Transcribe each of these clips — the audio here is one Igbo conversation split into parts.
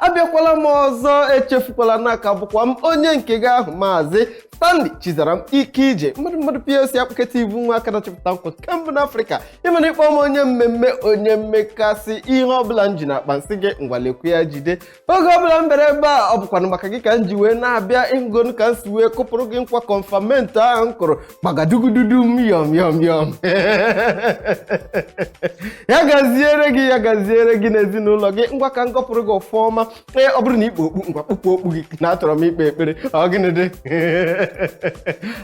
abịakwala m ọzọ echefukwala na a ka bụkwa m onye nke gị ahụ maazị stanley chizaram ike ije mmadụ mmadụ plc akpụketa ibu nwa aka na-achịpụta nkwa nke mbụ n'afrịka ị mana ị kpọ m onye mmemme onye mmekasị ihe ọbụla m ji n'akpa m sị gị ngwa lekwu ya jide oge ọbụla m bere ebe a ọ bụkwanụ maka gị ka m ji wee na-abịa ị hụgonu ka m si wee kụpụrụ gị nkwa kọnfamenti ahụ m kụrụ gbagadugududum yọm yọm yọm ya gaziere gị ya gaziere gị n'ezinụlọ gị ngwa ka m gọpụrụ gị ọfọ ọma ee ọ bụrụ na i kpu okpu ngwa kpupụ okpu gị na achọrọ m ikpe ekpere ọ gịnị dị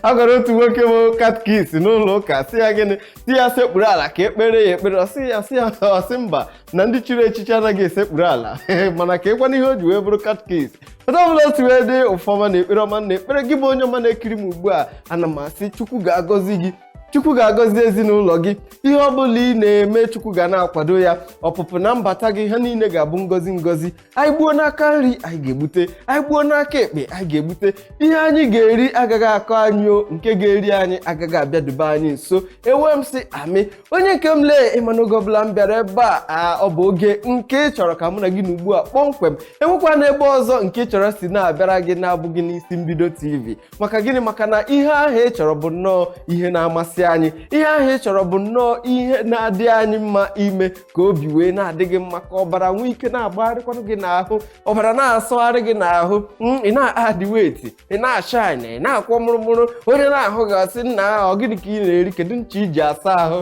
a gwara otu nwoke bụ katkis n'ụlọ ụka sị ya gịnị sị ya sekpuru ala ka e kpeere ya ekpere ọ sị ya sị ya ọ sị mba na ndị chiri echichi anaghị esekpuru ala mana kedukwanụ ihe o ji wee bụrụ katkis otu ọbụla o si wee dị ọfọ ọma na ekpere ọma m na-ekpere gị bụ onye ọma na-ekiri m ugbu a ana m asị chukwu ga-agọzi gị chukwu ga-agọzi ezinụlọ gị ihe ọ bụla ị na-eme chukwu ga na-akwado ya ọpụpụ na mbata gị ha niile ga-abụ ngọzi ngọzi anyị gbuo n'aka nri anyị ga-egbute anyị gbuo n'aka ekpe anyị ga-egbute ihe anyị ga-eri agaghị akọ anyị o nke ga-eri anyị agaghị abịadebe anyị nso ewee m sị amen onye nke m lee ị ma na oge ọbụla m bịara ebe a ọ bụ oge nke ị chọrọ ka mụ na gị nọ ugbu a kpọmkwem enwekwana ebe ọzọ nke ị chọrọ si na-abịara gị na-abụghị n'isi mbido tv maka gịnị maka na ihe ahụ ị chọrọ bụ nnọọ ihe na-amasị anyị ihe ahụ ị chọrọ bụ nnọọ ihe na-adị anyị mma ime ka obi wee na-adị gị mma ka ọbara nwee ike na-agbagharịkwanụ gị n'ahụ ọbara na-asọgharị gị n'ahụ mm, ị na-adị wet ị na-ashine ị na-akwọ mụrụmụrụ onye na-ahụ gị ọ sị nnaa ọ gịnị ka ị na-eri kedu ncha i ji asa ahụ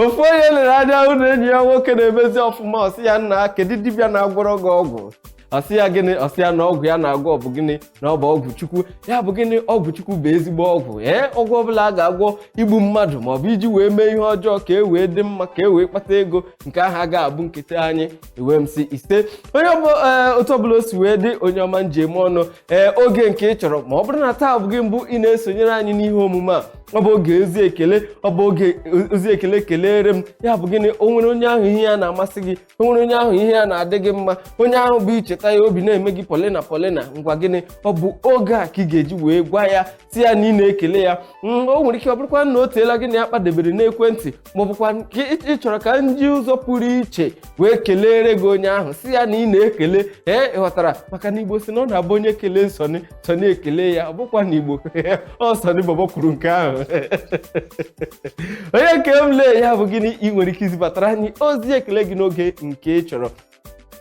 ofu onye lere anya hụ na enyi ya nwoke na-emezi ọfụma ọ sị ya nna kedu dibịa na-agwọrọ gị ọgwụ ọ sị ya gịnị ọ sị ya na ọgwụ ya na-agwọ ọ bụ gịnị na ọ bụ ọgwụ chukwu ya bụ gịnị ọgwụ chukwu bụ ezigbo ọgwụ ee ọgwụ ọbụla a ga-agwọ igbu mmadụ ma ọ bụ iji wee mee ihe ọjọọ ka e wee dị mma ka e wee kpata ego nke ahụ agaghị abụ nketa anyị ewee m sị ise onye ọbụ ee, otu ọbụla o si wee dị onye ọma m ji eme ọnụ ee oge nke ị chọrọ ma ọ bụrụ na taa bụ gị mbụ ị na-esonyere anyị n'ihe omume a ọ bụ oge ozi ekele ọ bụ oge ozi ekele kelere m ya bụ gịnị o nwere onye ahụ ihe ya na-amasị gị o nwere onye ahụ ihe ya na-adị gị mma onye ahụ bụ i cheta ya obi na-eme gị polina polina ngwa gịnị ọ bụ oge a ka ị ga-eji wee gwa ya sị ya na ị na-ekele ya Mm, o nwere ike ọ bụrụkwa na o teela gị na ya kpadebere n'ekwentị ma ọ bụkwanụ ị chọrọ ka m ji ụzọ pụrụ iche wee keleere gị onye ahụ sị ya na ị na-ekele ee ị ghọtara maka na igbo sị na ọ na-abụ onye kelee nsọnị sunny ekele ya ọ bụkwa na igbo ọ sunny bobo kwuru nke ahụ onye nke m lee ya bụ gịnị ị nwere ike izibatara anyị ozi ekele gị n'oge nke ị chọrọ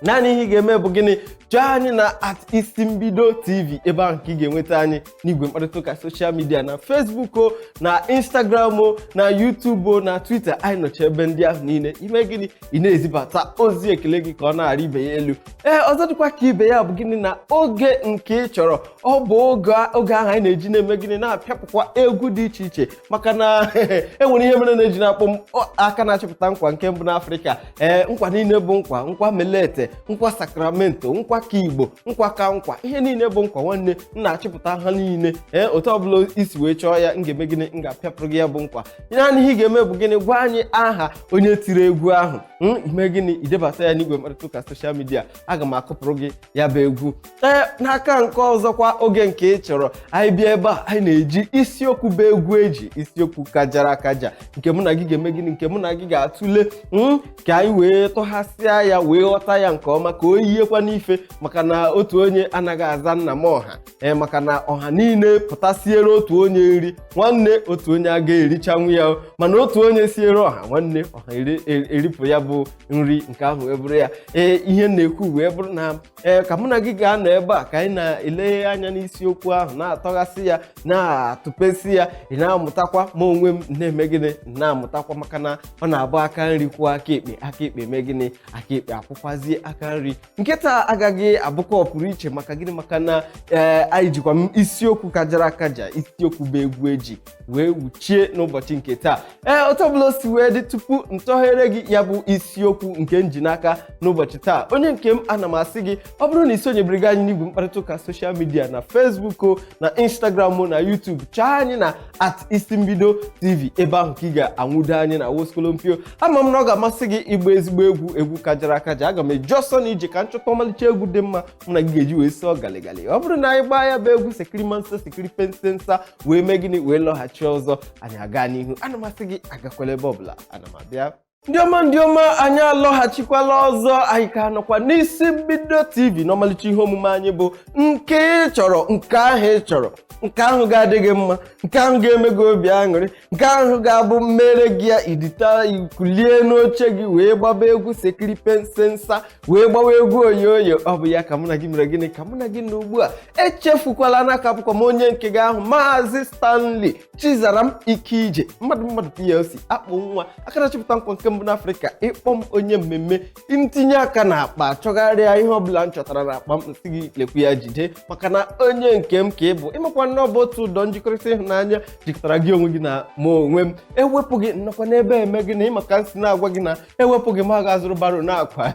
naanị ihe ị ga-eme bụ gịnị chọọ anyị na at isi mbido tv ebe ahụ ka ị ga-enweta anyị n'igwe mkparịta ụka soshal midia na facebook o na instagram o na youtube o na twitter anyị nọcha ebe ndị ahụ niile ime gịnị ị na-ezibata ozi ekele gị ka ọ na-arị ibe ya elu ee ọzọ dịkwa ka ibe ya bụ gịnị na oge nke ị chọrọ ọ bụ oge ahụ anyị na-eji na-eme gịnị na-apịapụkwa egwu dị iche iche maka na enwere ihe mere na-eji na-akpọ m aka na-achịpụta nkwa nke mbụ n'afrịka ee nkwa niile bụ nkwa nkwa melete nkwa sakramento nkwa ka igbo nkwa ka nkwa ihe niile bụ nkwa nwanne m na-achịpụta ha niile ee otu ọbụla i si wee chọọ ya m ga-eme gịnị m ga-apịapụrụ gị ya bụ nkwa naanị ihe ị ga-eme bụ gịnị gwa anyị aha onye tiri egwu ahụ Mm, ime gịnị idebata ya n'igwe mkparịta ụka soshal midia aga m akụpụrụ gị ya bụ egwu ee n'aka nke ọzọkwa oge nke ị chọrọ anyị bịa ebe a anyị na-eji isiokwu bụ egwu eji isiokwu kajara akaja nke mụ na gị ga-eme gịnị nke mụ na gị ga-atụle mm, ka anyị wee tụghasịa ya wee ghọta ya nke ọma ka o yiekwa n'ife maka na otu onye anaghị aza nna m ọha ee maka na ọha niile pụta siere otu onye nri nwanne otu onye aga erichanwu ya o. mana otu onye siere ọha nwanne ọha eri- er- eripụ ya bụ nri nke ahụ wee bụrụ ya ee ihe m na-ekwu wee bụrụ na ee ka mụ na gị ga-anọ ebe a ka anyị na-eleghe anya n'isiokwu ahụ na-atọghasị ya na-atụpesị ya ị na-amụtakwa ma onwe m na-eme gịnị m na-amụtakwa maka na ọ na-abụ aka nri kwụọ aka ekpe aka ekpe mee gịnị aka ekpe akwụkwazie aka nri nke taa agaghị abụkwa ọpụrụ iche maka gịnị maka na ee anyị jikwa m isiokwu kajara akaja isiokwu bụ egwu eji wee wuchie n'ụbọchị nke taa ee otu ọbụla o si wee dị tupu m tọghere gị ya bụ isiokwu nke m ji n'aka n'ụbọchị taa onye nke m ana m asị gị ọ bụrụ na i sonyebereghị anyị n'igwe mkparịta ụka soshal midia na Facebook o na Instagram o na YouTube chọọ anyị na at isi mbido tv ebe ahụ ka ị ga-anwudo anyị na woskolompio ama m na ọ ga-amasị gị ịgba ezigbo egwu egwu kajara akaja aga m eji ọsọ na ije ka m chọta ọmalịcha egwu dị mma mụ na gị ga-eji wee sọọ galigali ọ bụrụ na anyị gbaa ya bụ egwu sekiri mansa sekiri pensensa wee mee gịnị wee lọghachi ọzọ anyị aga n'ihu ana m asị gị agakwala ebe ọbụla ana m abịa ndị ọma ndị ọma anyị alọghachikwala ọzọ anyị ka nọkwa n'isi mbido tv n'ọmalịcha ihe omume anyị bụ nke ị chọrọ nke ahụ ị chọrọ nke ahụ ga-adị gị mma nke ahụ ga-eme gị obi aṅụrị nke ahụ ga-abụ m meere gị ya idita i kulie n'oche gị wee gbaba egwu sekiri pensensa wee gbawa egwu oyoyo ọ bụ ya ka mụ na gị mere gịnị ka mụ na gị nọ ugbu a echefukwala na a ka bụkwa m onye nke gị ahụ maazị stanley Chizaram Ikeije mmadụ mmadụ plc akpụ nwa aka na-achịpụta nkwa nke mbụ n'Afrịka ịkpọ m onye mmemme ntinye aka na akpa chọgharịa ihe ọbụla m chọtara na akpa m nsị gị lekwu ya jide maka na onye nke m ka ị bụ ịmakwa na ọ bụ otu ụdọ njikọrịta ịhụnanya jikọtara gị onwe gị na mụ onwe m ewepụ gị nnọkwa n'ebe eme gịnị ịma ka nsi na-agwa gị na ewepụ gị m ga-azụrụ baro na-akwa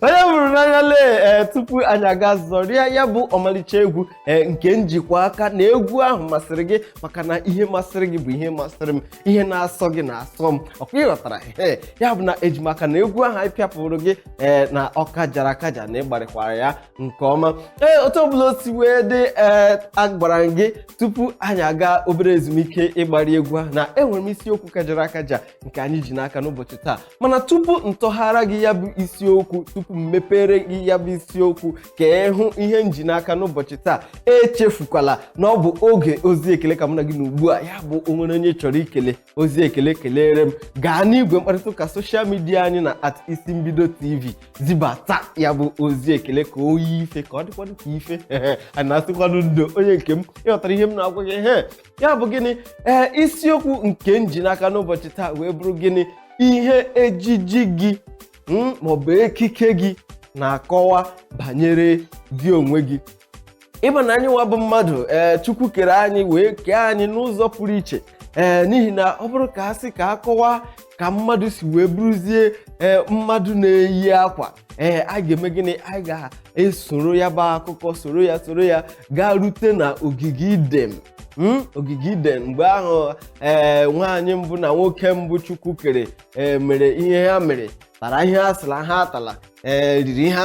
onye buru n'anya lee ee tupu anyị aga zọrịa ya bụ ọmalịcha egwu ee nke njikwa aka na egwu ahụ masịrị gị maka na ihe masịrị gị bụ ihe masịrị m ihe na-asọ gị na-asọ m ọkwa ịghọtara ee ya bụ na ejim aka na egwu ahụ anyị pịapụrụ gị ee na ọ kajara akaja na ịgbarịkwara ya nke ọma ee otu ọbụla o si wee dị ee agwara m gị tupu anyị aga obere ezumike ịgbari egwu ahụ na enwere m isiokwu kajara akaja nke anyị ji n'aka n'ụbọchị taa mana tupu ntọghara gị ya bụ isiokwu tupu m mepere gị ya bụ isiokwu ka ị hụ ihe nji n'aka n'ụbọchị taa echefukwala na ọ bụ oge ozi ekele ka mụ na gị nọ ugbu a ya bụ onwere onye chọrọ ikele ozi ekele kelere m gaa n'igwe mkparịta ụka soshal midia anyị na at isi mbido tv zibata ya bụ ozi ekele ka o yie ife ka ọ dịkwanụ ka ife a na-asịkwanụ ndo onye nke m ịghọtara ihe m na-agwa gị he ya bụ gịnị ee isiokwu nke nji n'aka n'ụbọchị taa wee bụrụ gịnị ihe ejiji gị mm, ma ọ bụ ekike gị na-akọwa banyere gị onwe gị ịma na anyị nwa bụ mmadụ ee chukwu kere anyị wee kee anyị n'ụzọ pụrụ iche ee n'ihi na ọ bụrụ ka a sị ka a kọwaa ka mmadụ si wee bụrụzie ee mmadụ na-eyi akwa ee a ga-eme gịnị a ga-esoro ya bụ akụkọ soro ya soro ya gaa rute na ogige iden Mm, ogige iden mgbe ahụ ee nwaanyị mbụ na nwoke mbụ chukwu kere ee mere ihe ha mere tara ihe a sịra ha atala ee riri ihe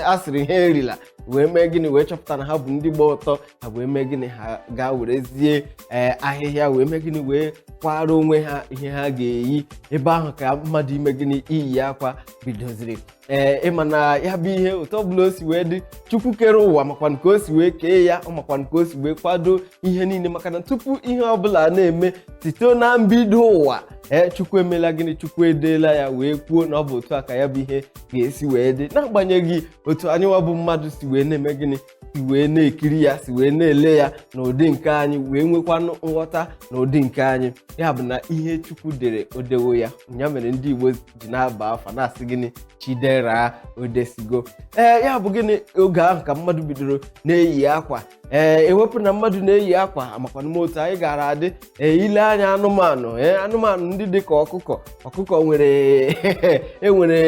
a sịrị ha erila wee mee gịnị wee chọpụta na ha bụ ndị gba ọtọ ha wee mee gịnị ha gaa werezie ee ahịhịa wee mee gịnị wee kwara onwe ha ihe ha ga-eyi ebe ahụ ka mmadụ ime gịnị iyi akwa bidoziri ee ịma na ya bụ ihe otu ọbụla o si wee dị chukwu kere ụwa makwanụ ka o si wee kee ya ọ makwanụ ka o si wee kwado ihe niile maka na tupu ihe ọbụla na-eme site na mbido ụwa ee chukwu emela gịnị chukwu edeela ya wee kwuo na ọ bụ otu a ka ya bụ ihe ga-esi wee dị n'agbanyeghị otu anyịnwa bụ mmadụ si wee na-eme gịnị si wee na-ekiri ya si wee na-ele ya n'ụdị nke anyị wee nwekwanụ nghọta n'ụdị nke anyị ya bụ na ihe chukwu dere odewo ya ya mere ndị igbo ji na-aba afa na-asị gịnị chidera odesigo ee ya bụ gịnị oge ahụ ka mmadụ bidoro na-eyi akwa ee ewepụ na mmadụ na-eyi akwa amakwanụm otu anyị gara adị ee i lee anya anụmanụ ee anụmanụ ndị dị ka ọkụkọ ọkụkọ nwere enwere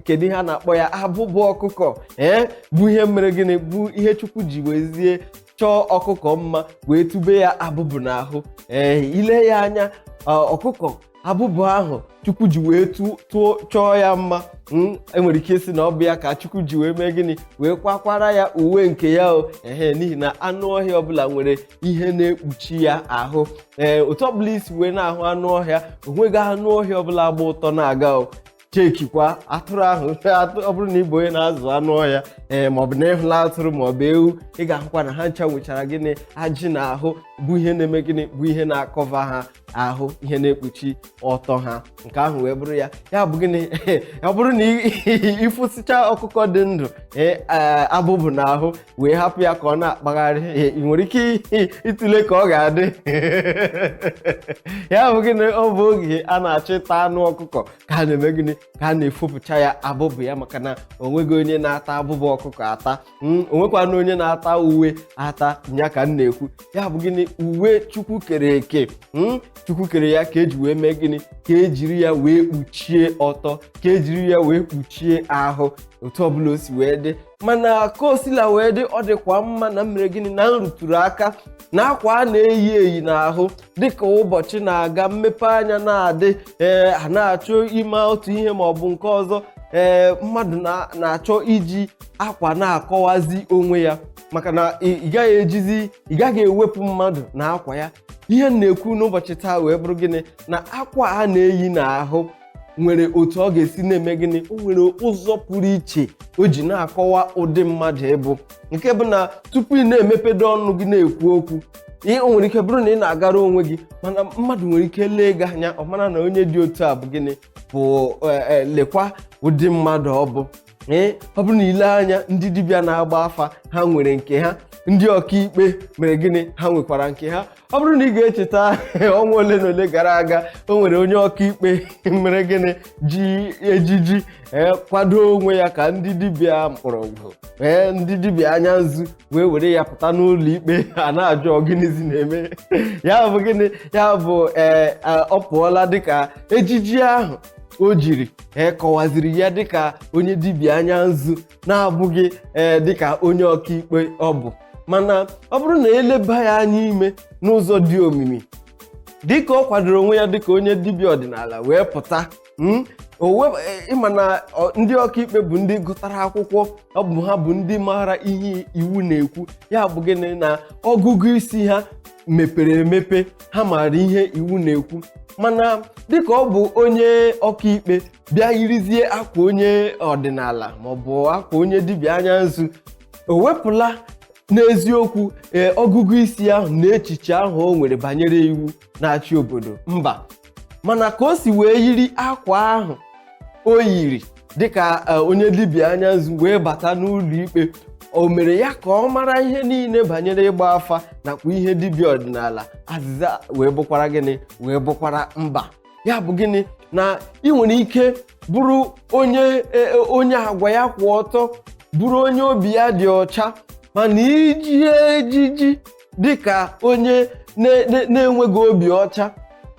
kedu ihe a na-akpọ ya abụbụ ọkụkọ ee bụ ihe mere gịnị bụ ihe chukwu ji wezie chọọ ọkụkọ mma wee tube ya abụbụ n'ahụ ee i lee ya anya ọkụkọ abụbụ ahụ chukwu ji wee tụọ chọọ ya mma hmm, enwere ike ịsị na ọ bụ ya ka chukwu ji wee mee gịnị wee kwakwara ya uwe nke ya o ehe n'ihi na anụ ọhịa ọbụla nwere ihe na-ekpuchi ya ahụ ee otu ọbụla i si wee na-ahụ anụ ọhịa onweghị anụ ọhịa ọbụla agba ọtọ na-aga o checkikwa atụrụ ahụ atụ- ọ bụrụ na ị bụ onye na-azụ anụ ọhịa ee maọbụ na ị hụla atụrụ maọbụ ewu ị ga-ahụkwa na ha ncha nwechara gịnị ajị n'ahụ bụ ihe na-eme gịnị bụ ihe na-acover ha ahụ ihe na-ekpuchi ọtọ ha nke ahụ wee bụrụ ya ya bụ gịnị ọ bụrụ na i fosicha ọkụkọ dị ndụ ee abụbụ n'ahụ wee hapụ ya ka ọ na-akpagharị ee, ị nwere ike ịtụle ka ọ ga-adị ya bụ gịnị ọ bụ oge a na-achọ ịta anụ ọkụkọ ka a na-eme gịnị ka a na-efopụcha ya abụbụ ya maka na o nweghị onye na-ata abụbụ ọkụkọ ata Hmm, o nwekwanụ onye na-ata uwe ata ya ka m na-ekwu ya bụ gịnị uwe chukwu kere eke hmm, chukwu kere ya ka eji wee mee gịnị ka ejiri ya wee kpuchie ọtọ ka ejiri ya wee kpuchie ahụ otu ọbụla o si wee dị mana ka o sila wee dị ọ dịkwa mma na m mere gịnị na m rụtụrụ aka na akwa a na-eyi eyi n'ahụ dịka ụbọchị na-aga mmepe anya na-adị ee a na-achọ ime otu ihe ma ọ bụ nke ọzọ ee mmadụ na- na-achọ iji akwa na-akọwazi onwe ya maka na ị ị gaghị ejizi ị gaghị ewepụ mmadụ na akwa ya ihe m na-ekwu n'ụbọchị taa wee bụrụ gịnị na akwa a na-eyi n'ahụ nwere otu ọ ga-esi na-eme gịnị o nwere ụzọ pụrụ iche o ji na-akọwa ụdị mmadụ ị bụ nke bụ na tupu ị na-emepedo ọnụ gị na-ekwu okwu ee o nwere ike bụrụ na ị na-agara onwe gị mana mmadụ nwere ike lee gị anya ọ mara na onye dị otu a bụ gịnị bụ eh, eh, lekwa ụdị mmadụ ọ bụ ee ọ bụrụ na i lee anya ndị dibịa na-agba afa ha nwere nke ha ndị ọkaikpe mere gịnị ha nwekwara nke ha ọ bụrụ na ị ga-echeta ọnwa ole na ole gara aga o nwere onye ọkaikpe mere gịnị ji ejiji ee kwado onwe ya ka ndị dibịa mkpọrọgwụ ee ndị dibịa anya nzu wee were ya pụta n'ụlọ ikpe a na-ajụ ọ gịnịzi na-eme ya bụ gịnị ya bụ ee ọ pụọla dịka ejiji ahụ o jiri ee kọwaziri ya dịka onye dibịa anya nzu na-abụghị ee dịka onye ọkaikpe ọ bụ mana ọ bụrụ na e leba ya anya ime n'ụzọ dị omimi dịka ọ kwadoro onwe ya dịka onye dibịa ọdịnala wee pụta mm, o web- e, ị ma na ọ- ndị ọkaikpe bụ ndị gụtara akwụkwọ ọ bụ ha bụ ndị maara ihe iwu na-ekwu ya bụ gịnị na ọgụgụ isi ha mepere emepe ha maara ihe iwu na-ekwu mana dịka ọ bụ onye ọkaikpe bịa yirizie akwa onye ọdịnala maọbụ akwa onye dibịa anya nzu o wepụla n'eziokwu ee ọgụgụ isi ahụ na echiche ahụ o nwere banyere iwu na-achị obodo mba mana ka o si wee yiri akwa ahụ o yiri dịka e, onye dibịa anya nzu wee bata n'ụlọ ikpe o mere ya ka ọ mara ihe niile banyere ịgba afa nakwa ihe dibịa ọdịnala azịza wee bụkwara gịnị wee bụkwara mba ya bụ gịnị na ị nwere ike bụrụ onye e, e, onye agwa ya kwụ ọtọ bụrụ onye obi ya dị ọcha mana iji ejiji dịka onye na- na- na-enweghị obi ọcha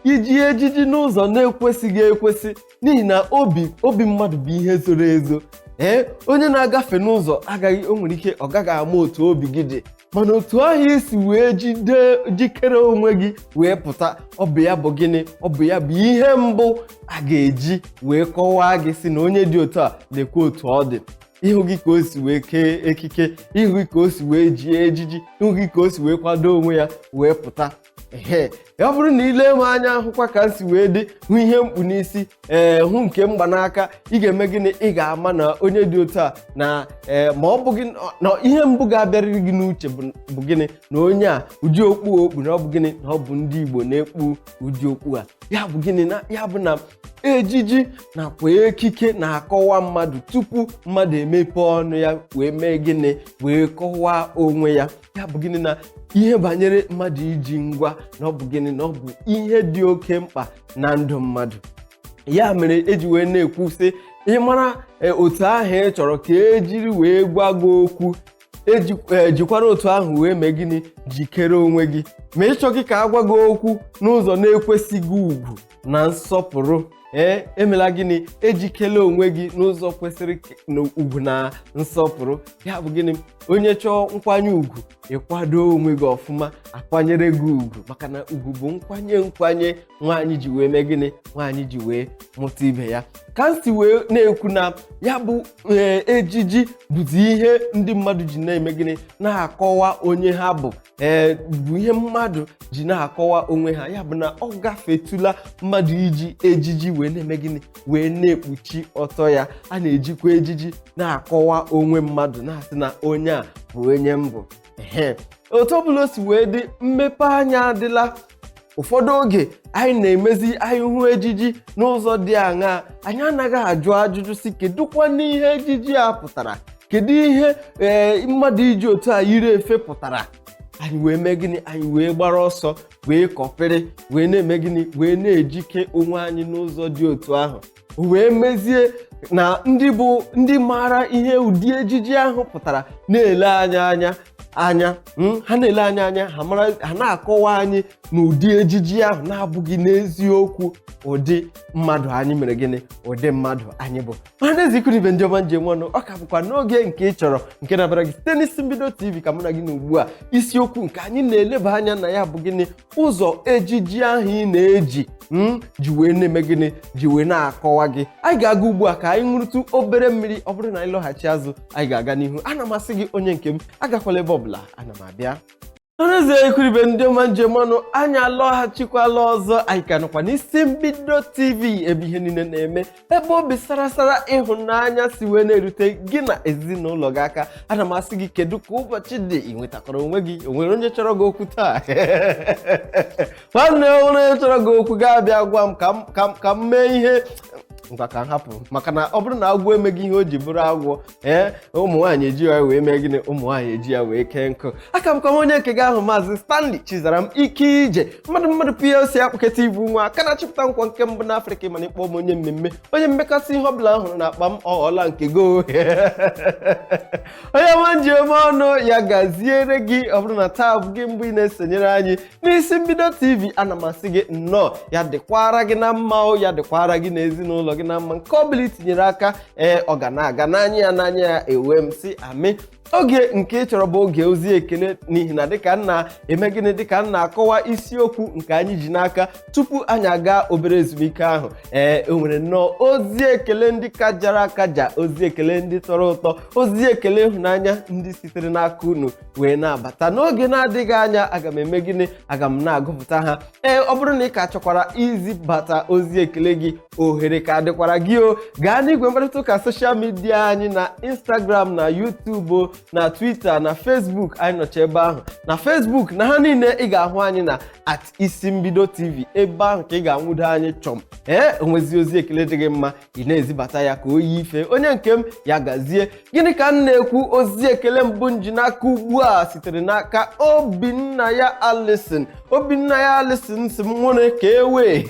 iji ejiji n'ụzọ na-ekwesịghị ekwesị n'ihi na obi obi mmadụ bụ ihe zoro ezo ee onye na-agafe n'ụzọ agaghị o nwere ike ọ gaghị ama otu obi gị dị mana otu ahụ i si wee jide jikere onwe gị wee pụta ọ bụ ya bụ gịnị ọ bụ ya bụ ihe mbụ a ga-eji wee kọwaa gị sị na onye dị otu a nekwe otu ọ dị ị hụghị ka o si wee kee ekike ị hụghị ka o si wee jie ejiji ị hụghị ka o si wee kwado onwe ya wee pụta ehe ya bụrụ na i lee m anya hụkwa ka m si wee dị hụ ihe m kpu n'isi ee hụ nke m gba n'aka ị ga-eme gịnị ị ga-ama na onye dị otu a na ee ma ọ bụghị na ihe mbụ ga-abịarịrị gị n'uche bụ bụ gịnị na onye a ụdị okpu a o kpu na ọ bụ gịnị na ọ bụ ndị Igbo na-ekpu ụdị okpu a ya bụ gịnị na ya bụ na ejiji nakwa ekike na-akọwa mmadụ tupu mmadụ emepe ọnụ ya wee mee gịnị wee kọwaa onwe ya ya bụ gịnị na ihe banyere mmadụ iji ngwa na ọ bụ gịnị na ọ bụ ihe dị oke mkpa na ndụ mmadụ ya mere e ji wee na-ekwu sị ị mara e, otu ahụ ị chọrọ ka e jiri wee gwa gị okwu eji- e, jikwara otu ahụ wee mee gịnị jikere onwe gị ma ị chọghị ka a gwa gị okwu n'ụzọ na-ekwesịghị ugwu na nsọpụrụ ee emela gịnị ejikela onwe gị n'ụzọ kwesịrị k- na ugwu na nsọpụrụ ya bụ gịnị onye chọọ nkwanye ugwu ị kwado onwe gị ọfụma a kwanyere gị ugwu maka na ugwu bụ nkwanye nkwanye nwaanyị ji wee mee gịnị nwaanyị ji wee mụta ibe ya ka m si wee na-ekwu na ya bụ ee, ejiji bụzi ihe ndị mmadụ ji na-eme gịnị na-akọwa onye ha bụ ee bụ ihe mmadụ ji na-akọwa onwe ha ya bụ na ọ gafetụla mmadụ iji ejiji wee na-eme gịnị wee na-ekpuchi ọtọ ya a na-ejikwa ejiji na-akọwa onwe mmadụ na-asị na onye a bụ onye m bụ ehe otu ọ bụla o si wee dị mmepe anya adịla ụfọdụ oge anyị na-emezi anyị hụ ejiji n'ụzọ dị aṅaa anyị anaghị ajụ ajụjụ sị kedukwa n'ihe ejiji a pụtara kedu ihe ee mmadụ iji otu a yiri efe pụtara anyị wee mee gịnị anyị wee gbara ọsọ wee kọpịrị wee na-eme gịnị wee na-ejike onwe anyị n'ụzọ dị otu ahụ wee mezie na ndị bụ ndị maara ihe ụdị ejiji ahụ pụtara na-ele anyị anya hmm, ha na-ele anyị anya ha na-akọwa anyị na ụdị ejiji ahụ na-abụghị n'eziokwu ụdị mmadụ anyị mere gịnị ụdị mmadụ anyị bụ mana ezi ikwu na ibe ndị ọma m ji eme ọnụ ọ ka bụkwa n'oge nke ị chọrọ nke na-abịara gị site n'isi mbido tv ka mụ na gị nọ ugbu a isiokwu nke anyị na-eleba anya na ya bụ gịnị ụzọ ejiji ahụ ị na-eji ji wee na-eme gịnị ji wee na-akọwa gị anyị ga-aga ugbu a ka anyị ṅụrụtụ obere mmiri ọ bụrụ na anyị lọghachi azụ anyị ga-aga n'ihu ana m asị gị onye nke m agakwala ebe ọbụla ana m abịa o ezi ikwu na ibe ndị ọma m ji eme ọnụ anyị alọghachikwala ọzọ anyị ka nọkwa n'isi mbido tv ebe ihe niile na-eme ebe obi sara asara ịhụnanya si wee na-erute gị na ezinụlọ gị aka ana m asị gị kedu ka ụbọchị dị i nwetakwara onwe gị o nwere onye chọrọ gị okwu taa nwanne o nwere onye chọrọ gị okwu gaa bịa gwa m ka m- ka m- ka m mee ihe ngwa ka m hapụ maka na ọ bụrụ na agwọ emeghị ihe o ji bụrụ agwọ ee ụmụ nwaanyị eji ya wee mee gịnị ụmụ nwaanyị eji ya wee kee nkụ a ka m bụkwa onye nke gị ahụ maazị Stanley Chizaram ike ije mmadụ mmadụ PLC akpụketa ibu nwa aka na-achịpụta nkwa nke mbụ n'Afrịka mana ị kpọọ m onye mmemme onye mmekasị ihe ọbụla a hụrụ n'akpa m ọ ghọọla nke gị o onye ọma m ji eme ọnụ ya gaziere gị ọ bụrụ na taa bụ gị mbụ ị na-esonyere anyị n'isi mbido TV ana m asị gị nnọọ ya dịkwara gị na mma o ya dịkwara gị na ezinụlọ gị na mma nke ọ bụla i tinyere aka ee ọ ga na-aga n'anya ya n'anya ya ewee m sị amen oge nke ị chọrọ bụ oge ozi ekele n'ihi na dịka m na-eme gịnị dịka m na-akọwa isiokwu nke anyị ji n'aka tupu anyị aga obere ezumike ahụ ee o nwere nnọọ ozi ekele ndị kajara akaja ozi ekele ndị tọrọ ụtọ ozi ekele ịhụnanya ndị sitere n'aka unu wee na-abata n'oge na-adịghị anya aga m eme gịnị aga m na-agụpụta ha ee ọ bụrụ na ị ka chọkwara izibata ozi ekele gị ohere ka dịkwara gị o gaa n'igwe mkparịta ụka social media anyị na instagram na youtube na twitter na facebook anyị nọcha ebe ahụ na facebook na ha niile ị ga-ahụ anyị na at isi mbido tv ebe ahụ ka ị ga-anwụdo anyị chọm ee o nwezie ozi ekele dị gị mma ị na-ezibata ya ka o yi ife onye nke m ya gazie gịnị ka m na-ekwu ozi ekele mbụ m ji n'aka ugbu a sitere n'aka obinnaya alison obinnaya alison sị m were ka ewe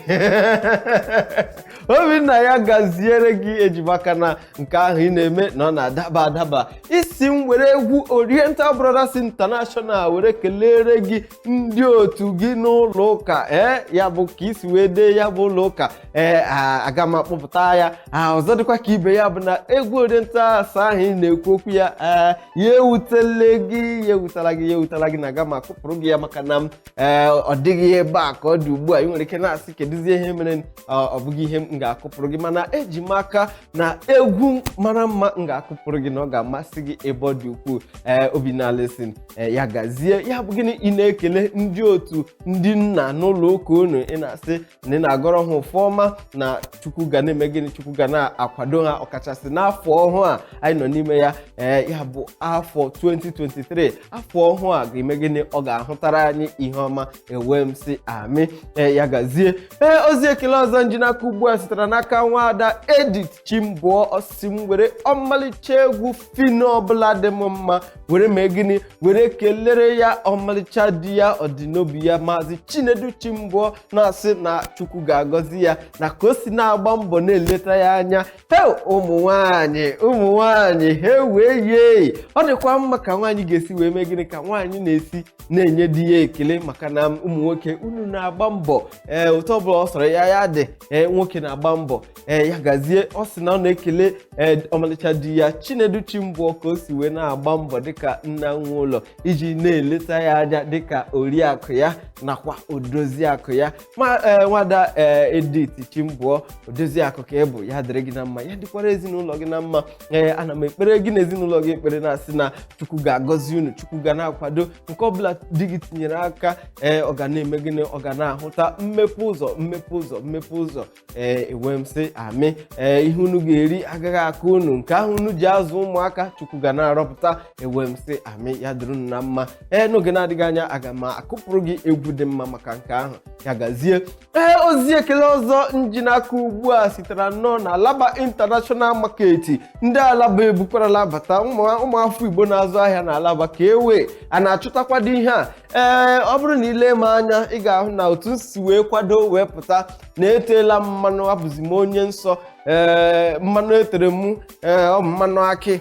obinna ya gaziere gị eji m aka na nke ahụ ị na-eme na ọ na-adaba adaba ị sị m were egwu oriental brothers international were kelere gị ndị otu gị n'ụlọ ụka ee ya bụ ka i si wee dee ya bụ ụlọ ụka ee a- aga m akpọpụta ya a, ọzọ dịkwa ka ibe ya bụ na egwu oriental asa ahụ ị na-ekwu okwu ya ee ya ewutela gị ya ewutala gị ya ewutala gị na aga m akụpụrụ gị ya maka na m ee ọ dịghị ebe a ka ọ dị ugbu a ị nwere ike na-asị kedụzi ihe mere ọ ọ bụghị ihe m ga-akụpụrụ gị mana eji m aka na egwu mara mma m ga-akụpụrụ gị na ọ ga-amasị gị ebe ọ dị ukwuu ee obinna alison ee ya gazie ya bụ gịnị ị na-ekele ndị otu ndị nna n'ụlọ ụka unu ị na-asị na ị na-agọrọ ha ọfọ ọma na chukwu ga na-eme gịnị chukwu ga na-akwado ha ọkachasị n'afọ ọhụụ a anyị nọ n'ime ya ee ya bụ afọ 2023 afọ ọhụụ a ga-eme gịnị ọ ga-ahụtara anyị ihe ọma ewee m sị amị ee ya gazie ee ozi ekele ọzọ m ji n'aka ugbu a sitere n'aka nwaada edith chimbụọ ọ sị m were ọmalịcha egwu phyno ọbụla dị m mma were mee gịnị were kelere ya ọmalịcha di ya ọdịnobi ya maazị chinedu chimbụọ na-asị na chukwu ga-agọzi ya na ka o si na-agba mbọ na-eleta ya anya he ụmụ nwanyị ụmụ nwanyị he wee yie ọ dịkwa mma ka nwaanyị ga-esi wee mee gịnị ka nwaanyị na-esi na-enye di ya ekele maka na ụmụ nwoke unu na-agba mbọ ee otu ọbụla ọ sọrọ ya ya dị ee nwoke na-agba mbọ ee ya gazie ọ sị na ọ na-ekele ee ọmalịcha di ya chinedu chimbụọ ka o si wee na-agba mbọ dịka nna nwe ụlọ iji na-eleta ya anya dịka oriakụ ya nakwa odoziakụ ya ma ee nwaada ee edith chimbụọ odoziakụ ka ị bụ ya dịrị gị na mma ya dịkwara ezinụlọ gị na mma ee ana m ekpere gị na ezinụlọ gị ekpere na-asị na chukwu ga-agọzi unu chukwu ga na-akwado nke ọbụla di gị tinyere aka ee ọ ga na-eme gịnị ọ ga na-ahụta mmepe ụzọ mmepe ụzọ mmepe ụzọ ee ewee m sị amị ee ihe unu ga-eri agaghị akọ unu nke ahụ unu ji azụ ụmụaka chukwu ga na-arọpụta ewee m sị amị ya dịrị unu na mma ee n'oge na-adịghị anya aga m akụpụrụ gị egwu dị mma maka nke ahụ ya gazie ee ozi ekele ọzọ m ji n'aka ugbu a sitere nnọọ na alaba international market ndị alaba ebukwarala bata ụmụ ụmụafọ igbo na-azụ ahịa na alaba ka ewe a na-achụtakwado ihe a ee ọ bụrụ na i lee m anya ị ga-ahụ na otu m si wee kwado wee pụta na eteela m mmanụ abụzi m onye nsọ ee mmanụ etere m ee ọ bụ mmanụ akị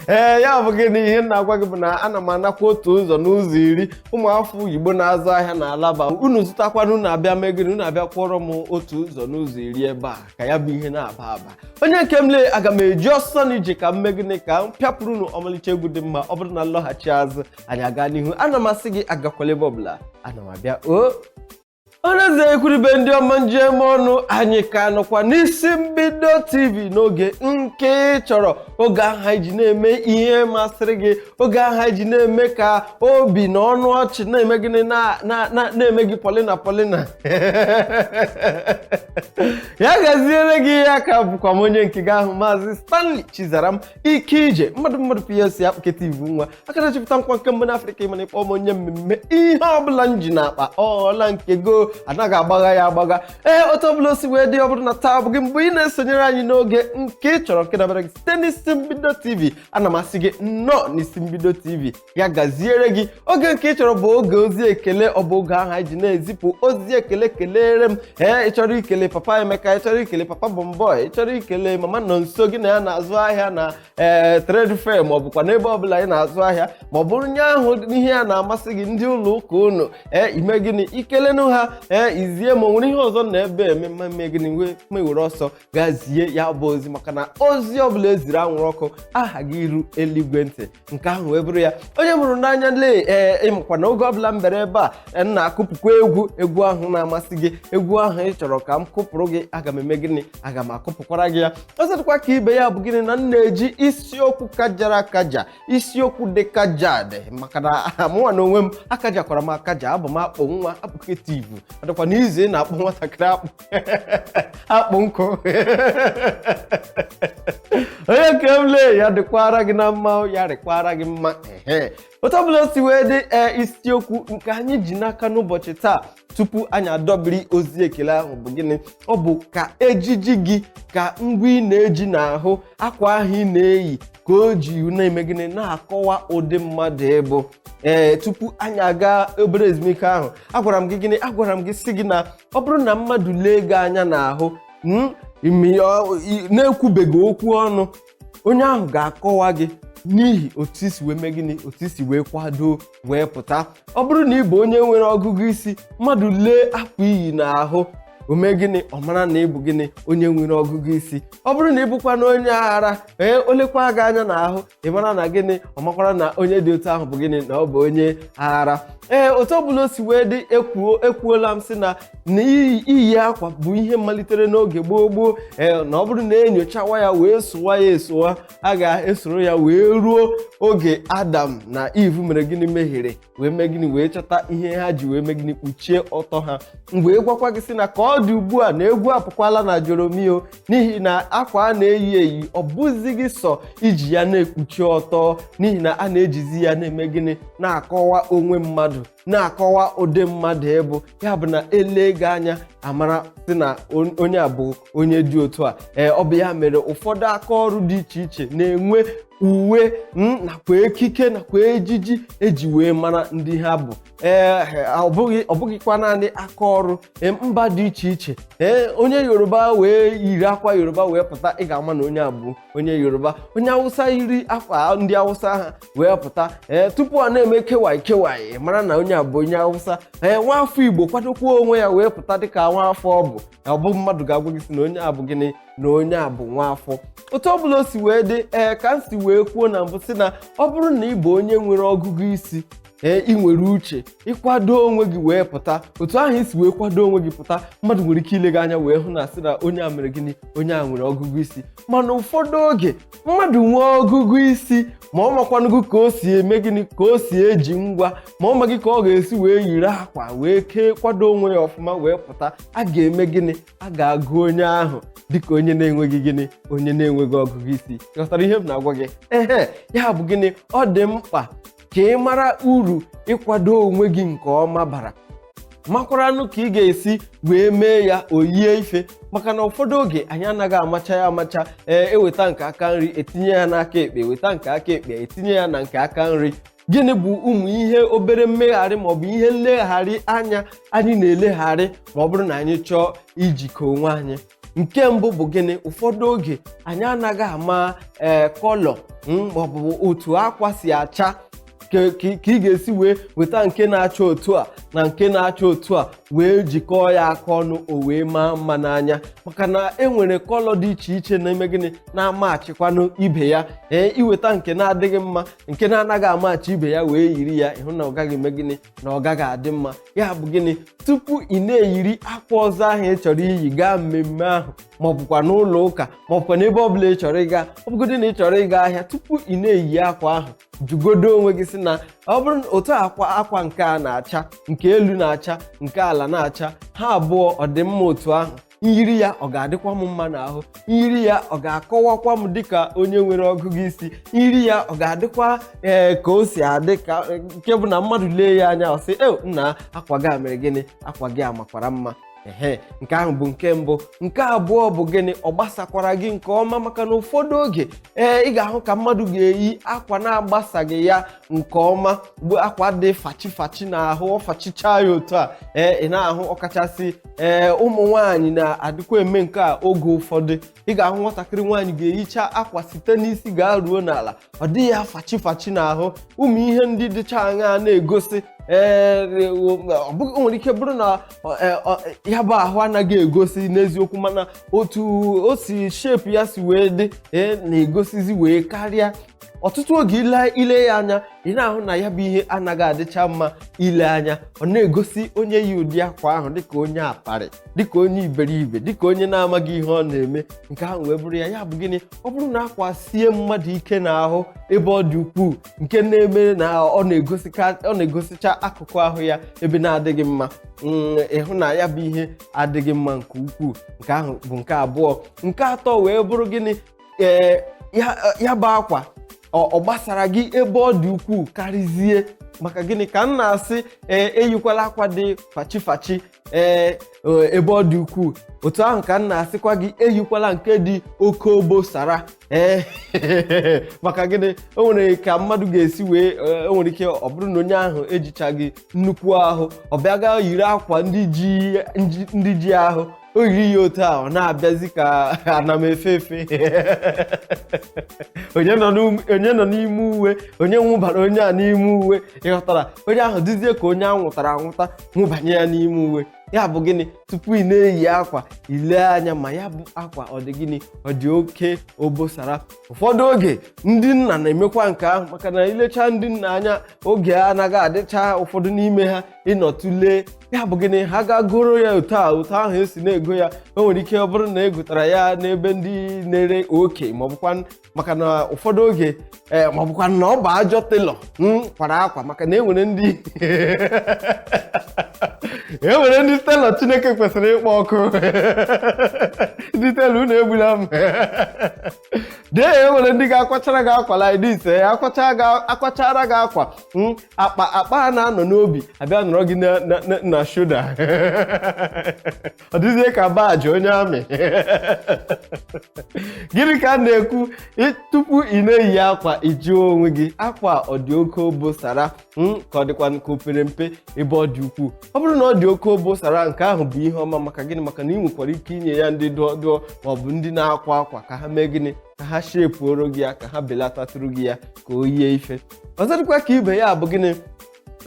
ee ya bụ gịnị ihe m na-agwa gị bụ na ana m anakwa otu ụzọ n'ụzọ iri ụmụafọ igbo na-azụ ahịa na alaba unu zụtakwana unu abịa mee gịnị unu abịa kwụọrọ m otu ụzọ n'ụzọ iri ebe a ka ya bụ ihe na-aba aba onye nke m lee aga m eji ọsọ na ije ka m mee gịnị ka m pịapụrụ unu ọmalịcha egwu dị mma ọ bụrụ na m lọghachi azụ anyị aga n'ihu ana m asị gị agakwala ebe ọbụla ana m abịa o ọnụeze ekwuribe ndị ọma m ji eme ọnụ anyị ka nọkwa n'isi mbido tv n'oge nke ị chọrọ oge ahụ anyị ji na-eme ihe masịrị gị oge ahụ anyị ji na-eme ka obi na ọnụ ọchị na-eme gịnị na- na- na- na-eme gị pọlịna pọlịna ya gaziere gị ee aka bụkwa m onye nke gị ahụ maazị stanley chizaram ike ije mmadụ mmadụ plc akpụketivu nwa aka na-achịpụta nkwa nke mbụ n'afrịka ị ma na ịkpọ m onye mmemme ihe ọbụla m ji n'akpa ọla nke go anaghị agbagha ya agbagha ee otu ọbụla o si wee dị ọ bụrụ na taa bụ gị mgbe ị na-esonyere anyị n'oge nke ị chọrọ nke dabara gị site n'isi mbido tv ana m asị gị nnọọ n'isi mbido tv ya gaziere gị oge nke ị chọrọ bụ oge ozi ekele ọ bụ oge ahụ anyị ji na-ezipụ ozi ekele kelere m ee ị chọrọ ikele papa emeka ị chọrọ ikele papa bọmbọị ị chọrọ ikele mama nọnso gị na ya na-azụ ahịa na ee trade fair ma ọ bụkwa n'ebe ọbụla ị na-azụ ahịa ma ọ bụrụ onye ahụ ihe ya na-amasị gị ndị ụlọ ụka unu ee ime gịnị ikelenụ ha ee izie ma o nwere ihe ọzọ na ebe eme m eme gịnị m ewere ọsọ gaa zie ya bụ ozi maka na ozi ọbụla eziri anwụrụ ọkụ ahaghị iru eluigwe ntị nke ahụ wee bụrụ ya onye m hụrụ n'anya lee ee ị makwa na oge ọbụla m bere ebe a m na-akụpụkwa egwu egwu ahụ na-amasị gị egwu ahụ ị chọrọ ka m kụpụrụ gị aga m eme gịnị aga m akụpụkwara gị ya ọzọ dịkwa ka ibe ya bụ gịnị na m na-eji isiokwu kajara akaja isiokwu dị kajad maka na mụnwa na onwe m akajakwara m akaja abụ m akpụ nwa akpụketivu ọ dịkwa na izu ị na-akpụ nwatakịrị akpụ akpụ nkụ onye nke m lee ya dịkwara gị na mma ya dịkwara gị mma ehe otu ọbụla o si wee dị ee isiokwu nke anyị ji n'aka n'ụbọchị taa tupu anyị adọbiri ozi ekele ahụ bụ gịnị ọ bụ ka ejiji gị ka ngwa ị na-eji n'ahụ akwa ahụ ị na-eyi ka o ji na-eme gịnị na-akọwa ụdị mmadụ ị bụ ee tupu anyị aga obere ezumike ahụ agwara m gị gịnị agwara m gị sị gị na ọ bụrụ na mmadụ lee gị anya n'ahụ mm, ime ya ọ- i- na-ekwubeghị okwu ọnụ onye ahụ ga-akọwa gị n'ihi otu i si wee mee gịnị otu i si wee kwado wee pụta ọ bụrụ na ị bụ onye nwere ọgụgụ isi mmadụ lee akwa i yi n'ahụ o mee gịnị ọ mara na ị bụ gịnị onye nwere ọgụgụ isi ọ bụrụ na ị bụkwanụ onye aghara ee o lekwa gị anya n'ahụ ị mara na gịnị ọ makwara na onye dị otu ahụ bụ gịnị na ọ bụ onye aghara ee otu ọbụla o si wee dị ekwuo ekwuola m sị na na iyi iyi akwa bụ ihe malitere n'oge gboo gboo ee na ọ bụrụ na enyochawa ya wee sowa ya esowa a ga-esoro ya wee ruo oge adam na iv mere gịnị mehiere wee mee gịnị wee chọta ihe ha ji wee mee gịnị kpuchie ọtọ ha m wee gwakwa gị sị na ka ọ dị ugbu a na egwu apụkwala na Joromi o n'ihi na akwa a na-eyi eyi ọ bụzighị sọ iji ya na-ekpuchi ọtọ n'ihi na a na-ejizi ya na-eme gịnị na-akọwa onwe mmadụ na-akọwa ụdị mmadụ ị bụ ya bụ na e lee gị anya a mara sị na on- onye a bụ onye dị otu a ee ọ bụ ya mere ụfọdụ aka ọrụ dị iche iche na-enwe uwe mm, nakwa ekike nakwa ejiji e ji wee mara ndị ha bụ ee ọ bụghị ọ bụghịkwa naanị aka ọrụ ee, mba dị iche iche ee onye yoruba wee yiri akwa yoruba wee pụta ị ga-ama na onye a bụ onye yoruba onye awụsa yiri akwa ndị awụsa ha wee pụta ee tupu a na-eme kewaị kewaị mara na onye a bụ onye awụsa ee nwa afọ igbo kwadokwa onwe ya wee pụta dịka nwa afọ ọ bụ ọ bụ mmadụ ga-agwa gị sị na onye a bụ gịnị na onye a bụ nwaafọ otu ọbụla o si wee dị ee ka m si wee kwuo na mbụ sị na ọ bụrụ na ị bụ onye nwere ọgụgụ isi ee ị nwere uche ịkwado onwe gị wee pụta otu ahụ i si wee kwado onwe gị pụta mmadụ nwere ike ile gị anya wee hụ na sị na onye a mere gịnị onye a nwere ọgụgụ isi mana ụfọdụ oge mmadụ nwee ọgụgụ isi ma ọ makwanụghị ka o si eme gịnị ka o si eji ngwa ma ọ maghị ka ọ ga-esi wee yiri akwa wee kee kwado onwe ya ọfụma wee pụta a ga-eme gịnị a ga-agụ onye ahụ dịka onye na-enweghị gịnị onye na-enweghị ọgụgụ isi ghọtara ihe m na-agwa gị ehe ya bụ gịnị ọ dị mkpa ka ị mara uru ịkwado onwe gị nke ọma bara makwaranụ ka ị ga-esi wee mee ya o yie ife maka na ụfọdụ oge anyị anaghị amacha ya amacha ee e weta nke aka nri e tinye ya n'aka ekpe weta nke aka ekpe e tinye ya na nke aka nri gịnị bụ ụmụ ihe obere mmegharị maọbụ ihe nlegharị anya anyị na-elegharị ma ọ bụrụ na anyị chọọ ijikọ onwe anyị nke mbụ bụ gịnị ụfọdụ oge anyị anaghị ama ee eh, kọlọ hmm, maọbụ otu akwa si acha ka ị ga-esi wee weta nke na-acha otu a na nke na-acha otu a wee jikọọ ya aka ọnụ o wee maa mma n'anya maka na e nwere kọlọ dị iche iche na-eme gịnị na-amachikwanụ ibe ya ee eh, i weta nke na-adịghị mma nke na-anaghị amachi ibe ya wee yiri ya ị hụ na ọ gaghị eme gịnị na ọ gaghị adị mma ya bụ gịnị tupu ị na-eyiri akwa ọzọ ahụ ị chọrọ iyi gaa mmemme ahụ ma ọ bụkwa n'ụlọ ụka ma ọ bụkwa n'ebe ọ bụla ị chọrọ ịga ọ bụgodị na ị chọrọ ịga ahịa tupu ị na-eyi akwa ahụ jụgodo onwe gị sị na ọ bụrụ otu akwa akwa nke a na-acha nke elu na-acha nke ala na-acha ha abụọ ọ dị mma otu ahụ m yiri ya ọ ga-adịkwa m mma n'ahụ m yiri ya ọ ga-akọwakwa m dịka onye nwere ọgụgụ isi m yiri ya ọ ga-adịkwa ee ka o si adị ka nke bụ na mmadụ lee ya anya ọ sị e nna akwa gị a mere gịnị akwa gị a makwara mma ehe nke ahụ bụ nke mbụ nke abụọ bụ gịnị ọ gbasakwara gị nke ọma maka na ụfọdụ oge ee ị ga-ahụ ka mmadụ ga-eyi akwa na-agbasaghị ya nke ọma bụ akwa dị fachi fachi n'ahụ ọ fachicha ya otu a ee ị na-ahụ ọkachasị ee ụmụ nwaanyị na-adịkwa eme nke a oge ụfọdụ ị ga-ahụ nwatakịrị nwaanyị ga-eyicha akwa site n'isi gaa ruo n'ala ọ dị ya fachi fachi n'ahụ ụmụ ihe ndị dịcha aṅa na-egosi ee ọ bụghị o nwere ike bụrụ na ọ- e, ọ- ya bụ ahụ anaghị egosi n'eziokwu mana otu o si shepu ya si wee dị ee na-egosizi wee karịa ọtụtụ oge ile ile ya anya ị na-ahụ na ya bụ ihe anaghị adịcha mma ile anya ọ na-egosi onye yi ụdị akwa ahụ dịka onye aparị dịka onye iberibe dịka onye na-amaghị ihe ọ na-eme nke ahụ wee bụrụ ya ya bụ gịnị ọ bụrụ na akwa sie mmadụ ike n'ahụ ebe ọ dị ukwuu nke na-eme na ọ na-egosicha akụkụ ahụ ya ebe na-adịghị mma mm, ị hụ na ya bụ ihe adịghị mma nke ukwuu nke ahụ bụ nke abụọ nke atọ wee bụrụ gịnị ee ya ya bụ akwa ọ ọ gbasara gị ebe ọ dị ukwuu karịzie maka gịnị ka m na-asị ee eyikwala akwa dị fachi fachi ee e- ebe ọ dị ukwuu otu ahụ ka m na-asịkwa gị eyikwala nke dị oke obosara ee maka gịnị o nwere ka mmadụ ga-esi wee ee, o nwere ike ọ bụrụ na onye ahụ ejichaghị nnukwu ahụ ọ bịa gaa yiri akwa ndị ji ndị ji ahụ o yiri ya otu a ọ na-abịazi ka ana m efe efe onye nọ n'um- onye nọ n'ime uwe onye nwụbara onye a n'ime uwe ị ghọtara onye ahụ dịzie ka onye a nwụtara anwụta nwụbanye ya n'ime uwe ya bụ gịnị tupu ị na-eyi akwa ile anya ma ya bụ akwa ọ dị gịnị ọ dị oke obosara ụfọdụ oge ndị nna na-emekwa nke ahụ maka na i lecha ndị nna anya oge a anaghị adịcha ụfọdụ n'ime ha ị nọ tụlee ya bụ gịnị ha gaa goro ya otu a otu ahụ esi na-ego ya o nwere ike ọ bụrụ na e gotara ya n'ebe ndị na-ere oke maọbụkwanụ maka na ụfọdụ oge ee maọbụkwanụ na ọ bụ ajọ telọ kwara akwa maka na enwere ndị enwere ndị telọ chineke kwesịrị ịkpọ ọkụ ndị telọ unu egbula m dee ya enwere ndị ga-akwachara gị akwa like this eh, akwachara gị akwa hmm, akpa akpa a na-anọ n'obi abịa nọrọ gị na shoda ọ dịzie ka baji onye amị gịnị ka a na-ekwu tupu ị na-eyi akwa ị jụọ onwe gị akwa ọ dị oke obosara ka ọ dịkwa nke o pere mpe ebe ọ dị ukwuu ọ bụrụ na ọ dị oke obosara nke ahụ bụ ihe ọma maka gịnị maka na ị nwekwara ike inye ya ndị dụọ dụọ ma ọ bụ ndị na-akwa akwa ka ha mee gịnị ka ha shepuoro gị ya ka ha belatatụrụ gị ya ka o yie ife ọzọ dịkwa ka ibe ya bụ gịnị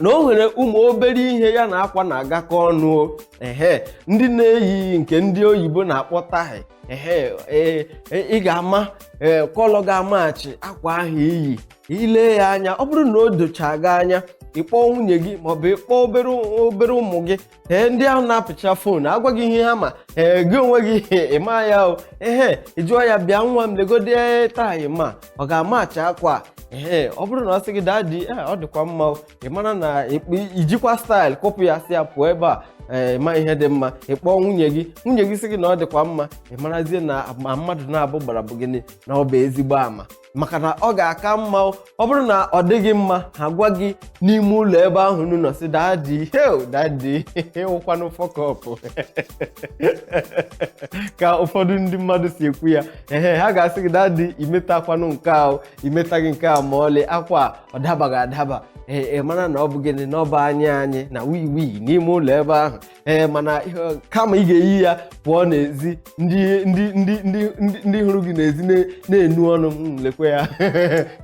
na o nwere ụmụ obere ihe ya na akwa na-agakọ ọnụ o. ehe ndị na-eyi nke ndị oyibo na-akpọ taị ehe ee, e- ị ga-ama ee, kọlọ ga-amachi akwa ahụ i yi ile ya anya ọ bụrụ na o dochaghị anya ịkpọọ nwunye gị maọbụ ịkpọọ obere obere ụmụ gị ee ndị ahụ na-apịcha fon agwa gị ihe ha ma ee gị onwe gị ịma ya o ehe ị jụọ ya bịa nwa m legodi taị ma ọ ga-amacha akwa a ee ọ bụrụ na ọ sị gị dadi ee ọ dịkwa mma o ị mara na ịkpụ- ijikwa staịl kụpụ ya sị ya pụọ ebe a ee ma ihe dị mma ị kpọọ nwunye gị nwunye gị sị gị na ọ dịkwa mma ị marazie na ama mmadụ naabọ gbara bụ gịnị na ọ bụ ezigbo ama maka na ọ ga-aka mma ọ bụrụ na ọ dịghị mma ha gwa gị n'ime ụlọ ebe ahụ unu nọ sị dadi hee dadi ị wụkwanụ fọkọpụ ka ụfọdụ ndị mmadụ si ekwu ya ehe ha ga-asị gị dadi imetakwanụ nke ahụ imetaghị nke a ma ọlị akwa ọ dabaghị adaba ee mara na ọ bụ gịnị na ọ bụ anyị anyị na we we n'ime ụlọ ebe ahụ ee mana kama ị ga-eyi ya pụọ n'ezi ndị ndị ndị ndị ndị hụrụ gị n'ezi na-enu ọnụ hmm, lekwe ya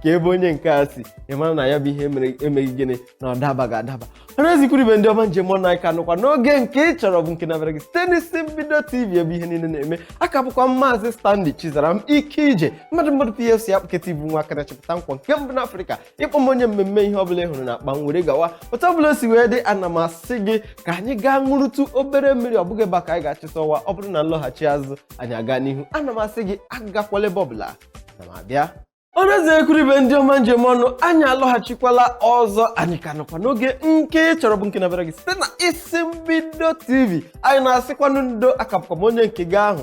ka ebe onye nke a si ị mara na ya bụ ihe mere emeghị gịnị na ọ dabaghị adaba ọra na eze ikwu na ibe ndị ọma m ji eme ọnụ anyị ka nọkwa n'oge nke ị chọrọ bụ nke na-abịara gị site n'isi mbido tv ebe ihe niile na-eme aka bụkwa m maazị Stanley Chizaram ike ije mmadụ mmadụ PFC akpụketa ibu nwa aka na-achịpụta nkwọ nke mbụ n'Afrịka ịkpọ m onye mmemme ihe ọbụla ị hụrụ na akpa m were gawa otu ọbụla o si wee dị ana m asị gị ka anyị gaa ṅụrụtụ obere mmiri ọ bụghị ebe a ka anyị ga-achịta ọwa ọ bụrụ na nlọghachi azụ anyị aga n'ihu ana m asị gị agakwala ebe ọbụla na m abịa ọra na eze ikwu na ibe ndị ọma m ji eme ọnụ anyị alọghachikwala ọzọ anyị ka nọkwa n'oge nke ị chọrọ bụ nke na-abịara gị site na isi mbido tv anyị na-asịkwanụ ndo aka bụkwa m onye nke gị ahụ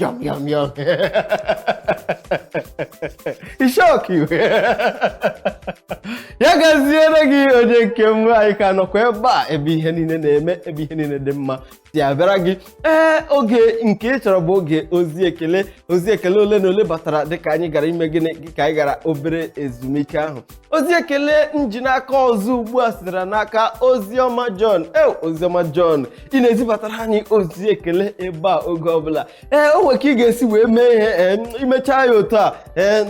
Yum, yum, yum. E shock you. ya gaziere gị onye nke m anyị ka nọkwa ebe a ebe ihe niile na-eme ebe ihe niile dị mma si abịara gị ee oge nke ị chọrọ bụ oge ozi ekele ozi ekele ole na ole batara dịka anyị gara ime gịnị ka anyị gara obere ezumike ahụ ozi ekele m ji n'aka ọzọ ugbu a sitere n'aka oziọma John e oziọma John ị na-ezibatara anyị ozi ekele ebe a oge ọbụla ee o nwere ka ị ga-esi wee mee ihe ee imechaa ya otu a ee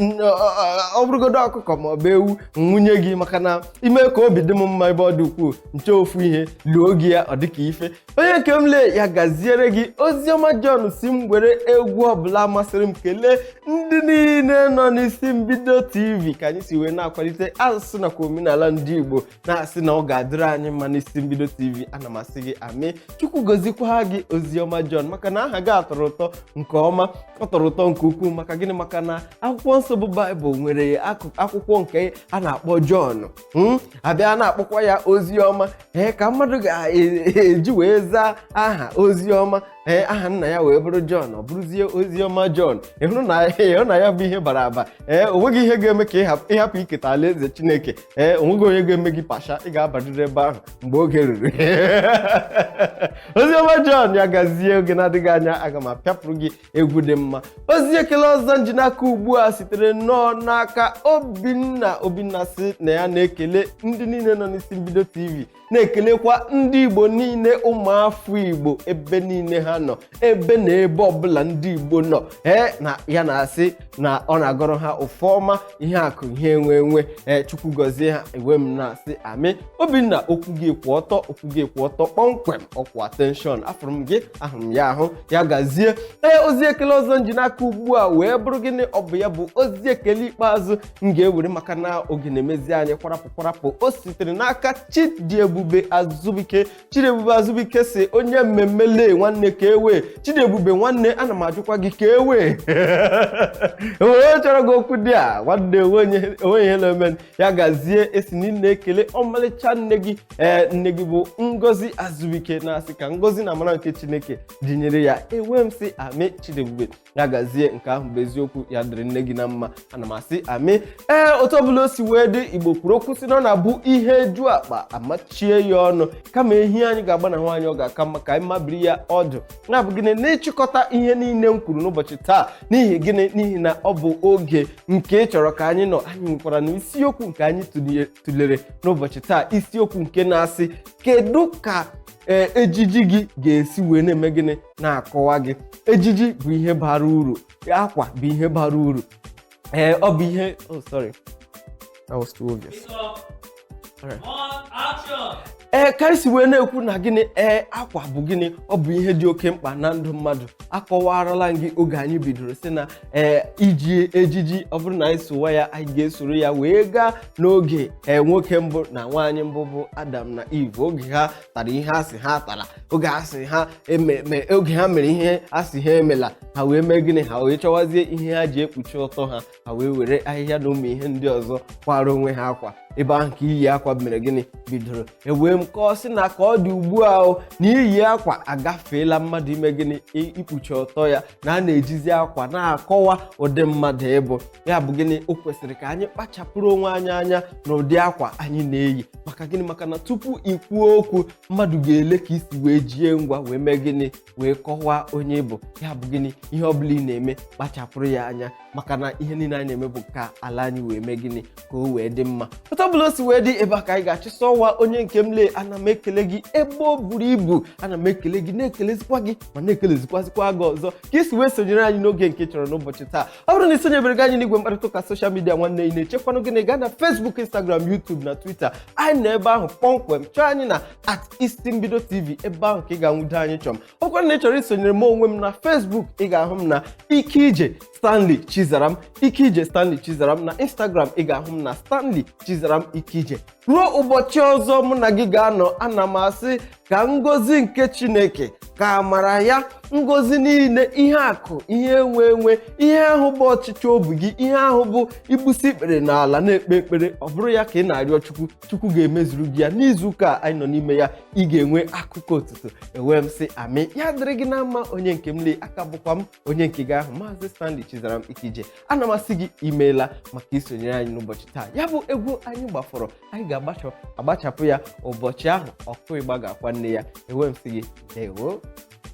ọ bụrụgodo ọkụkọ ma ọ bụ ewu nwunye gị maka na ime ka obi dị m mma ebe ọ dị ukwuu nche ofu ihe luo gị ya ọ dịka ife onye nke m lee ya gaziere gị oziọma John sị m were egwu ọbụla masịrị m kelee ndị niile nọ n'isi mbido tv ka anyị si wee na-akwalite asụsụ nakwa omenala ndị Igbo na-asị na ọ ga-adịrị anyị mma n'isi mbido tv ana m asị gị amen Chukwu gozikwa gị oziọma John maka na aha gị a tọrọ ụtọ nke ọma ọ tọrọ ụtọ nke ukwuu maka gịnị maka na akwụkwọ nsọ bụ baịbụl nwere akụkụ akwụkwọ nke a na-akpọ John Hmm? abịa na-akpọkwa ya Oziọma ee ka mmadụ ga-eji wee zaa aha Oziọma ee aha nna ya wee bụrụ John ọ bụrụzie Oziọma John ị hụrụ na ya bụ ihe bara aba ee onweghị ihe ga-eme ka ị hapụ iketa alaeze Chineke ee onweghị onye ga-eme gị pasha ị ga-abarịrị ebe ahụ mgbe oge ruru Oziọma John ya gazie oge na-adịghị anya aga m apịapụrụ gị egwu dị mma ozi ekele ọzọ nji n'aka ugbu a sitere nnọọ n'aka obinna obinna sị na ya na-ekele ndị niile nọ n'isi mbido tv na-ekelekwa ndị igbo niile ụmụafọ igbo ebe niile ha nọ ebe na ebe ọbụla ndị igbo nọ ee na ya na-asị na ọ na-agọrọ ha ọfọ ọma ihe akụ ihe enwe enwe ee chukwu gọzie ha ewee m na-asị amen obinna okwu gị kwụ ọtọ okwu gị kwụ ọtọ kpọmkwem ọ kwụ attention afụrụ m gị ahụrụ m ya ahụ ya gazie ee ozi ekele ọzọ nji n'aka ugbu a wee bụrụ gịnị ọ bụ ya bụ ozi ekele ikpeazụ m ga-ewere maka na oge na-emezi anyị kwarapụ kwarapụ o sitere n'aka chidiebube azụbike chidiebube azụbike sị onye mmemme lee nwanne kee way chidiebube nwanne ana m ajụkwa gị kee way onye chọrọ gị okwu dị a nwanne onweghị ihe na-eme ya gazie ị sị na ị na-ekele ọmalịcha nne gị ee nne gị bụ ngozi azụbike na-asị ka ngozi na amara nke chineke dịnyere ya ewee m sị amen chidiebube ya gazie nke ahụ bụ eziokwu ya dịrị nne gị na mma ana m asị amen ee otu ọbụla o si wee dị igbo kwuru okwu sị na ọ na-abụ ihe ju akpa amachie ya ọnụ kama ehi anyị ga-agbanahụ anyị ọ ga-aka mma ka anyị mabiri ya ọdụ ya bụ gịnị n'ịchịkọta ihe niile m kwuru n'ụbọchị taa n'ihi gịnị n'ihi na ọ bụ oge nke ị chọrọ ka anyị nọ anyị nwekwaranụ isiokwu nke anyị tụlere n'ụbọchị taa isiokwu nke na-asị kedu ka e, ejiji gị ga-esi wee na-eme gịnị na-akọwa gị ejiji bụ ihe bara uru akwa bụ ihe bara uru ee ọ bụ ihe oh sorry that was too obvious ee ka anyị si wee na-ekwu na gịnị ee akwa bụ gịnị ọ bụ ihe dị oke mkpa na ndụ mmadụ akọwaarala m gị oge anyị bidoro sị na ee iji ejiji ọ bụrụ na anyị sowa ya anyị ga-esoro ya wee gaa n'oge ee nwoke mbụ na nwaanyị mbụ bụ Adam na Eve oge ha tara ihe a sị ha tara oge a sị ha eme- me- oge ha mere ihe a sị ha emela ha wee mee gịnị ha wee chọwazie ihe ha ji ekpuchi ọtọ ha ha wee were ahịhịa na ụmụ ihe ndị ọzọ kwara onwe ha akwa ebe ahụ ka iyi akwa mere gịnị bidoro ewee m kọọ sị na ka ọ dị ugbu a o na iyi akwa agafeela mmadụ ime gịnị i- ikpuchi ọtọ ya na a na-ejizi akwa na-akọwa ụdị mmadụ ị bụ ya bụ gịnị o kwesịrị ka anyị kpachapụrụ onwe anyị anya na ụdị akwa anyị na-eyi maka gịnị maka na tupu ị kwuo okwu mmadụ ga-ele ka i si wee jie ngwa wee mee gịnị wee kọwaa onye ị bụ ya bụ gịnị ihe ọ bụla ị na-eme kpachapụrụ ya anya maka na ihe niile anyị na-eme bụ ka ala anyị wee mee gịnị ka o wee dị mma otu ọbụla o si wee dị ebe a ka anyị ga-achịsa ọwa onye nke m lee ana m ekele gị ebe o buru ibu ana m ekele gị na-ekelezikwa gị ma na-ekelezikwazikwa gị ọzọ ka i si wee sonyere anyị n'oge nke chọrọ n'ụbọchị taa ọ bụrụ na ị sonyebereghị anyị n'igwe mkparịta ụka soshal midia nwanne ị na-echekwanụ gịnị gaa na Facebook Instagram YouTube na Twitter anyị nọ ebe ahụ kpọmkwem chọọ anyị na at isi mbido tv ebe ahụ ka ị ga-anwudo anyị chọm ọ bụkwarụ na ị chọrọ isonyere m onwe m na Facebook ị ga-ahụ m na Ikeije Stanley Chizaram Ikeije Stanley Chizaram na Instagram ị ga-ahụ m na Stanley Chizaram Ikeije ruo ụbọchị ọzọ mụ na gị ga-anọ ana m asị ka ngọzi nke chineke ka amara ya ngọzi niile ihe akụ ihe enwe enwe ihe ahụ bụ ọchịchọ obi gị ihe ahụ bụ i gbusi ikpere n'ala na-ekpe ekpere ọ bụrụ ya ka ị na-arịọ chukwu chukwu ga-emezuru gị ya n'izu ụka a anyị nọ n'ime ya ị ga-enwe akụkọ otuto ewee m sị amị ya dịrị gị na mma onye nke m lee aka bụkwa m onye nke gị ahụ maazị stanley chizaram ikeije ana m asị gị i meela maka isonyere anyị n'ụbọchị taa ya bụ egwu anyị gbafọrọ anyị ga-agbachapụ ya ụbọchị ahụ ọkụ ịgba ga-akwa nne ya ewee m sị gị ndewo